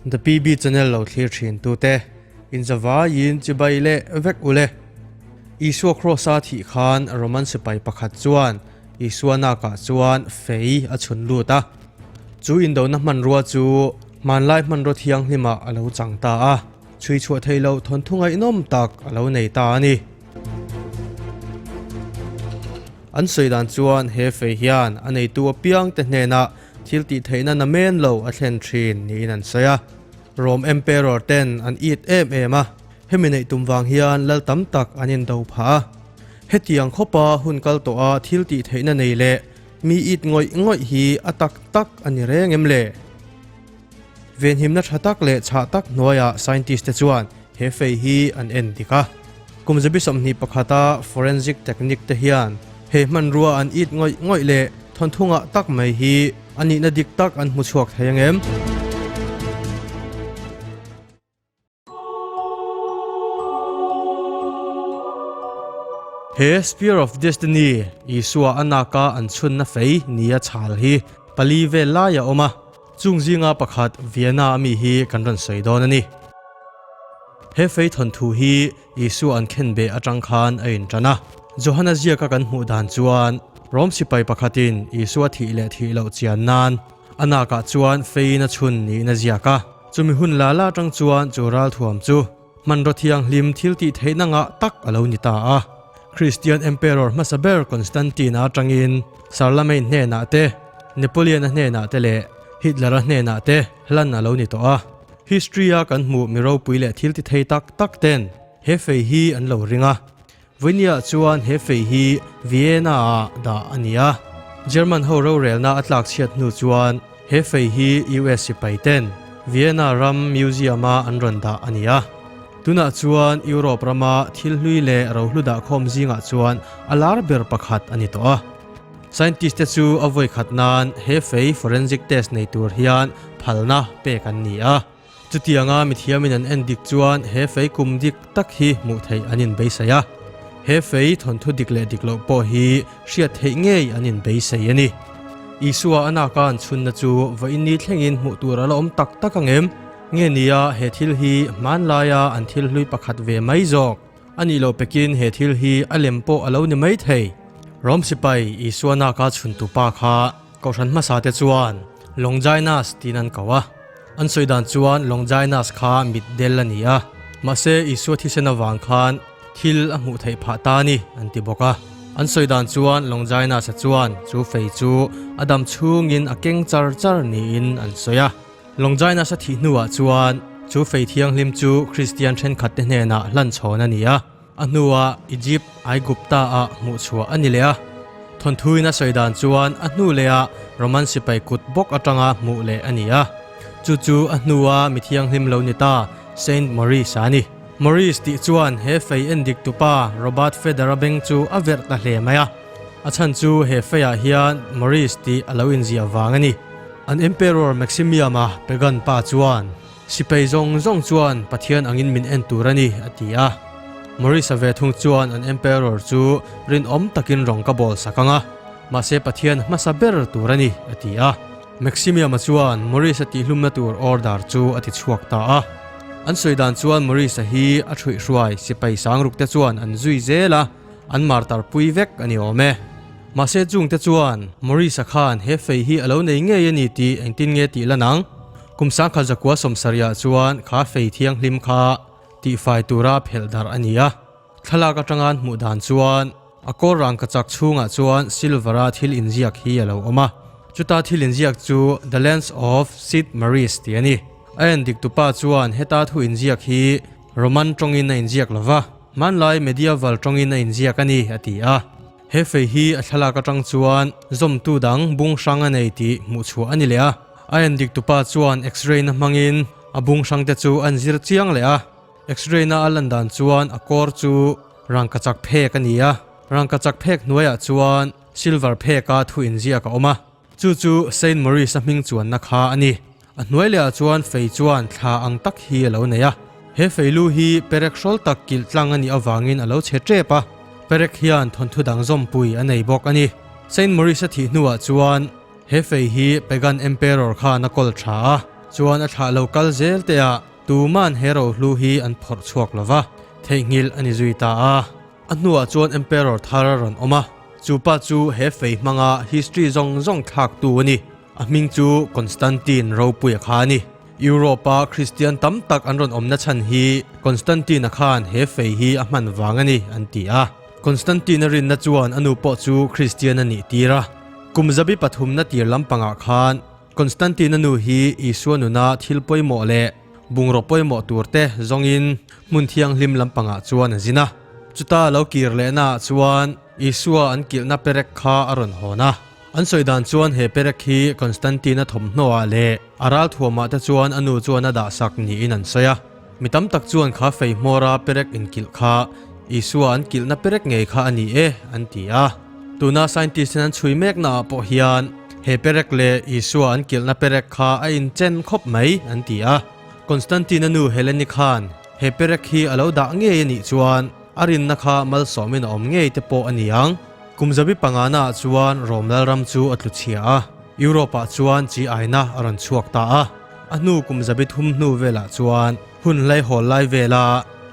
The PB channel lo thlir thin tu te in zava in chibai le vek u le Isua cross a thih khan Roman sipai pakhat chuan Isua naka chuan fei a chhun lut a chu in do na hman rua chu Hmanlai hmanraw thianghlima a lo chang ta a, chhuichhuah thei lo thawnthu ngaihnawm tak a lo nei ta a ni. An sawi dan chuan he fei hian a neitu a piangte hnenah thil tih theihna na men lo a thlen thin niin an sawi a. Rome Emperor ten an it em em a, hemi neih tum vang hian lal tam tak an indo phah a. Hetiang khawpa hun kal tawha thil tih theihna nei leh Mi it ngawih ngawih hi a tak tak a ni reng em le? Venhimna tha tak leh chhah tak hnuaiah scientist te chuan he fei hi an en dik a. Kum zabi sawmhnih pakhata forensic technique te hian he hmanrua an it ngawih ngawih leh thawnthu ngah tak mai hi a nihna dik tak an hmu chhuak thei ang em? He Spear of Destiny, Isua a naka an chhunna fei ni a chhal hi pali vel lai a awm a, chung zinga pakhat Vienna ami hi kan rawn sawi dawn a ni. He fei thawn thu hi Isua an khen beh atang khan a inṭan a. Johanna ziaka kan hmuh dan chuan Rom sipai pakhatin Isua thih leh thih loh chian nan, A nakah chuan fein a chhun niin a ziak a. Chumi hun lal atang chuan chu ralthuam chu hmanraw thianghlim thiltih theih nangah tak a lo ni ta a. Kristian Emperor hmasa ber Constantine-a atangin Charlemagne hnenah te, Napoleon-a hnenah te leh Hitler-a hnenah te hlan a lo ni tawh a. History-a kan hmuh mi ropui leh thiltithei tak tak ten he fei hi an lo ring a. Vuyniah chuan he fei hi Vienna-ah dah a ni a. German ho rorelna a tlakchhiat hnu chuan he fei hi US sipaiten Vienna ram museum-a an rawn dah a ni a. Tunah chuan Europe rama thil hlui leh rohlu dah khawm zingah chuan a lar ber pakhat a ni tawh a. Scientist-te chu a vawikhat nan he fei forensic test nei tur hian phalna pek an ni a. Chutianga mithiamin an en dik chuan he fei kum dik tak hi hmuh theih an in beisei a. He fei thawnthu dik leh dik loh pawh hi hriat theih ngei an in beisei a ni. Isua a naka an chhunna chu vawiin ni thlengin hmuh tur a la awm tak tak ang em? Nge nia he thil hi hmanlaia an thil hlui pakhat ve mai zawk? A nih loh pekin he thil hi a lem pawh a lo ni mai thei. Rom sipai Isua naka chhuntu pa kha Kohhran hmasa te chuan Longinas tiin an ko a. An sawi dan chuan Longinus kha mitdel a ni a, mahse Isua thisen avang khan thil a hmuh theih phah ta ni an ti bawk a. An sawi dan chuan Longinus-a chuan chu fei chu a dam chhungin a keng char char niin an sawi a. Longinus-a thih hnuah chuan chu fei thianghlim chu Kristian thenkhatte hnenah hlan chhawn a ni a. A hnuah Egypt, Aigupta, ah hmuhchhuah a ni leh a. Thawnthuin a sawi dan chuan a hnu leh a Roman sipai kut bawk atanga hmuh leh a ni a. Chu chu a hnua mi thianghlim lo ni ta Saint Maurice a ni. Maurice tih chuan he fei en dik tupa Robert Feder a beng chu a verh ta hle mai a. A chhan chu he feiah hian Maurice tih a lo inziah vang a ni. An Emperor Maximium-a pagan pa chuan Sipai zawng zawng chuan Pathian angin min en tur a ni, a ti a. Maurice-a ve thung chuan an Emperor chu rinawm takin rawng ka bawl sak ang a, mahse Pathian hmasa ber tur a ni, a ti a. Maximium-a chuan Maurice-a tihhlumna tur order chu a tichhuak ta a. An sawi dan chuan Maurice-a hi a thruihhruai sipai sangrukte chuan an zui zel a, an martar pui vek a ni awm e. Mahse Jungte chuan Maurice-a khan he fei hi a lo nei ngei a ni tih engtin nge tih la nang? Kum sangkhat zakua sawmsariah chuan kha fei thianghlim kha tihfai tura phelh darh a ni a. Thlalak atanga an hmuh dan chuan a kawl rangka chak chhungah chuan silver-a thil inziak hi a lo awm a. Chuta thil inziak chu The Lands of Sid Meierys ti a ni. A en dik tupa chuan heta thu inziak hi Roman tawngin a inziak lo va, hmanlai medieval tawngin a inziak a ni, a ti a. He fei hi a thlalak atang chuan zawmtu dang bung hrang a nei tih hmuh chhuah a ni leh a. A en dik tupa chuan x-ray na hmangin a bung hrang te chu an zir chiang leh a. X-ray na a lan dan chuan a kawr chu rangkachak phek a ni a. Rangkachak phek hnuaiah chuan silver phek a thu inziak a awm a. Chu chu Saint Maurice-a hming chuanna kha a ni. A hnuai leh ah chuan fei chuan thla ang tak hi a lo nei a. He fei lu hi perek hrawl tak kilh tlang a nih avangin a lo chhe tep a. Perek hian thawnthu dang zawmpui a nei bawk a ni. Saint Maurice-a thih hnu ah chuan he fei hi Pagan Emperor khan a kawl tha a, chuan a thlah lo kal zel te ah tuman he rohlu hi an phawrh chhuak lo va, theihnghilh a ni zui ta a. A hnuah chuan Emperor thar a rawn awm a, chu pa chu he fei hmanga history zawng zawng thlaktu a ni. A hming chu Constantine ropui a kha a ni. Europe a Kristian tam tak an rawn awmna chhan hi Constantine a khan he fei hi a hman vang a ni an ti a. Constantine a rinna chuan a nu pawh chu Kristian a nih tir a. Kum zabi pathumna tir lampangah khan, Constantine-a nu hi Isua nuna thil pawimawh leh bungraw pawimawh tur te zawngin hmun thianghlim lampangah chuan a zin a. Chuta lo kir lehnaah chuan Isua an kilhna perek kha a rawn hawn a. An sawi dan chuan he perek hi Constantine-a thawmhnaw ah leh a ralthuamah te chuan a nu chuan a dahsak niin an sawi a. Mi tam tak chuan kha fei hmawra perek in kilh kha Isua an kilhna perek ngei kha a ni e an ti a. Tuna scientist in an chhui mekna ah pawh hian he perek leh Isua an kilhna perek kha a in chen khawp mai an ti a. Constantine a nu Helene khan he perek hi a lo dah ngei a nih chuan a rinna kha malsawm in a awm ngei te pawh a ni ang. Kum zabi panga naah chuan Rome lalram chu a tlu chhia a. Europe-ah chuan chi aina a rawn chhuak ta a, a hnu kum zabit hum hnu velah chuan hun hlei hawl lai vela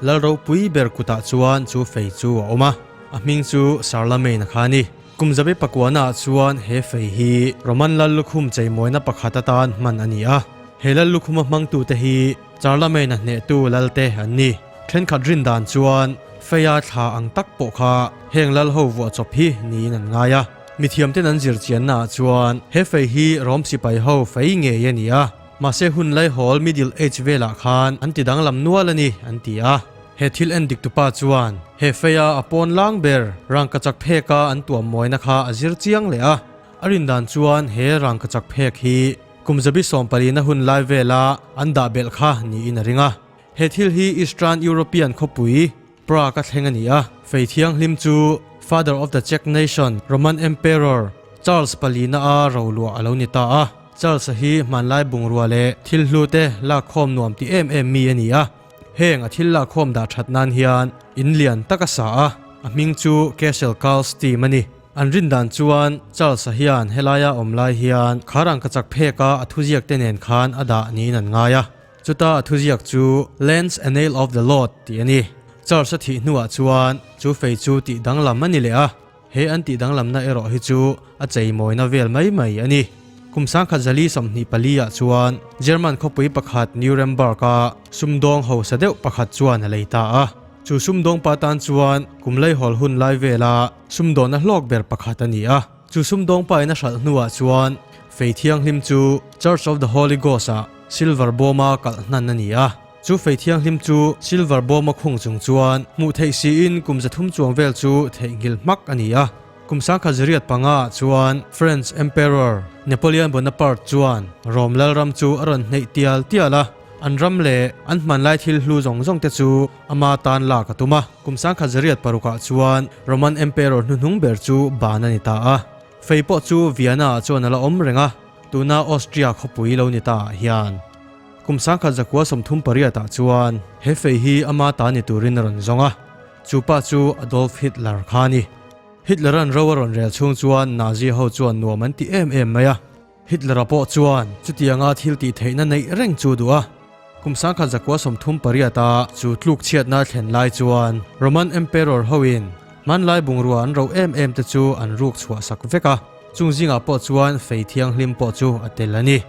lal ropui ber kutah chuan chu fei chu a awm a, a hming chu Charlemagne a kha a ni. Kum zabi pakuanaah chuan he fei hi Roman lal lukhum cheimawina pakhat atan hman a ni a, he lal lukhuma hmangtute hi Charlemagne a hnehtu lalte an ni. Thenkhat rin dan chuan feia thla ang tak pawh kha heng lal ho vuah chawp hi niin an ngai a. Mithiamten an zir chianna ah chuan he fei hi Rome sipai ho fei ngei a ni a, mahse hun laihawl Middle Age velah khan an ti danglam nual a ni an ti a. He thil en dik tupa chuan he feia a pawn lang ber rangkachak phek a an tuam mawina kha a zir chiang leh a. A rindan chuan he rangkachak phek hi kum zabi sawmpalina hun lai vela an dah belh kha niin a ring a. He thil hi Eastern European khawpui Prague a thleng a ni a, Fei Thianghlim chu Father of the Czech Nation, Roman Emperor Charles pali na a ro luah a lo ni ta a. Charles-a hi hmanlai bungrua leh thil hlu te lakkhawm nuam ti em em mi a ni a. Heng a thil lakkhawm dah that nan hian in lian tak a sa a, a hming chu Cashel Carl's Team a ni. An rindan chuan Charles-a hian helai a awm lai hian khar ang ka chak phek a, a thuziak te nen khan a dah niin an ngai a. Chuta a thuziak chu Lens a Nail of the Lord tih a ni. Church a thih hnuah chuan chu fei chu tih danglam a ni leh a, he an tih danglamna erawh hi chu a cheimawina vel mai mai a ni. Kum sangkhat zali sawmhnih paliah chuan German khawpui pakhat Nuremberg a sumdawng hausa deuh pakhat chuan a lei ta a. Chu sumdawngpa tan chuan kum laihawl hun lai vela sumdawn a hlawk ber pakhat a ni a. Chu sumdawng pa in a hralh hnu ah chuan Fei Thianghlim chu Church of the Holy Ghost ah silver bawm a kalh hnan a ni a. Chu Fei Thianghlim chu silver bawm a khung chung chuan hmuh theih si in kum za thum chuang vel chu theih nghilh hmak a ni a. Kum sangkhat za riat panga ah chuan French Emperor Napoleon Bonaparte chuan Rome lalram chu a rawn hneih tial tial a, an ram leh an hmanlai thil hlu zawng zawng te chu ama tan lak a tum a. Kum sangkhat zariat paruk ah chuan Roman Emperor hnuhnung ber chu ban a ni ta a, fei pawh chu Vienna ah chuan a la awm reng a, tuna Austria khawpui lo ni ta ah hian. Kum sangkhat zakhua sawmthum pariat ah chuan he fei hi ama ta ni turin a rawn zawng a, chu pa chu Adolf Hitler kha a ni. Hitler-an ro a rawn rel chhung chuan Nazi ho chuan nuam an ti em em mai a. Hitler-a pawh chuan chutianga thil tih theihna neih reng chu duh a. Kum sangkhat zakua sawmthum pariata chu tluk chhiatna thlen lai chuan Roman Emperor hoin hmanlai bungrua an rauh em em te chu an ruk chhuah sak vek a. Chung zingah pawh chuan fei thianghlim pawh chu a tel a ni.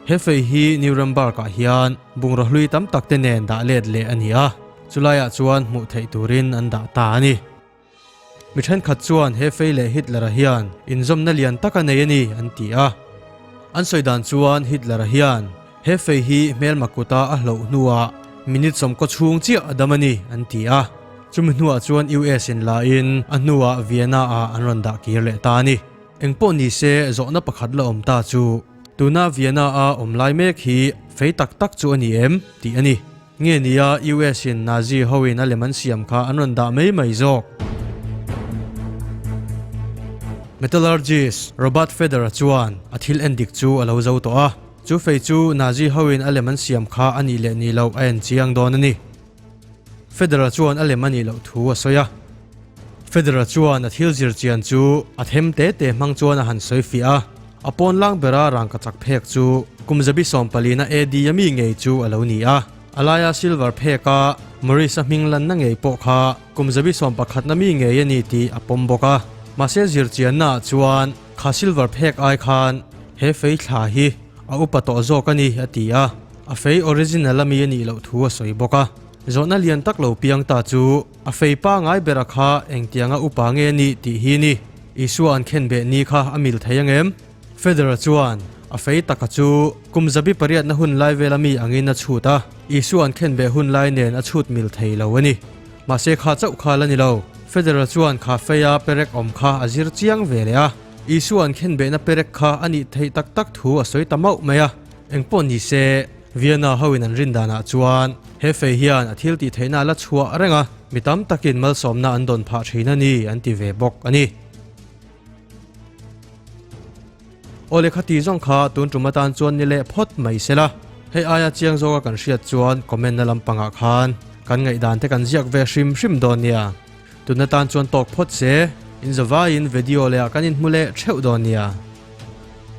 He fei hi Nuremberg-ah hian bungrua hlui tam tak te nen dah let leh a ni a, chulaiah chuan hmuh theih turin an dah ta a ni. Mi thenkhat chuan he fei leh Hitler-a hian inzawmna lian tak a nei a ni an ti a. An sawi dan chuan Hitler-a hian he fei hi hmelma kuta a hloh hnuah minute sawmkaw chhung chiah a dam a ni an ti a. Chumi hnuah chuan US-in la in a hnuah Vienna-ah an rawn dah kir leh ta a ni. Eng pawh ni se zawhna pakhat la awm ta chu tuna Vienna-a awm lai mek hi fei tak tak chu a ni em? tih a ni. Nge nia US in Nazi ho in a lem an siam kha an rawn dah mai mai zawk. Metallurgist Robert Federer chuan a thil en dik chu a lo zo tawh a, chu fei chu Nazi ho in a lem an siam kha a nih leh nih loh a en chiang dawn a ni. Federer chuan a lem a nih loh thu a sawi a. Federal chuan a thil zirchian chu a them te te hmang chuan a han sawi fiah a, a pawnlang bera rangka chak phek chu kum zabi sawmpalina AD a mi ngei chu a lo ni a, a laia silver phek a Maurice a hming lanna ngei pawh kha kum zabi sawmpakhatna mi ngei a ni tih a pawm bawk a, mahse zirchianna ah chuan kha silver phek ai khan he fei thla hi a upa tawh zawk a ni a ti a, a fei original a mi a nih loh thu a sawi bawk a, zawhna lian tak lo piang ta chu. A fei pangai berah kha engtianga upa nge ni tih hi ni? Isua an khen beh ni kha a mil thei ang em? Federer chuan a fei taka chu kum zabi pariatna hun lai vela mi angin a chhut a, Isua an khen beh hun lai nen a chhut mil thei lo a ni. Mahse kha chauh kha la ni lo. Federer chuan kha feia perek awm kha a zir chiang ve leh a, Isua an khen behna perek kha a nih theih tak tak thu a sawi ta mauh mai a. Eng pawh ni se, Vienna hoin an rin danah chuan he fei hian a thil tih theihna la chhuah reng a, mi tam takin malsawmna an dawn phah thin a ni an ti ve bawk a ni. Aw lehkha ti zawng kha tun tum atan chuan ni leh phawt mai se la, hei aia chiang zawka kan hriat chuan comment na lampangah khan kan ngaihdan te kan ziak ve hrim hrim dawn nia, tun atan chuan tawk phawt se, inzawvaiin vedio leh ah kan inhmu leh theuh dawn nia.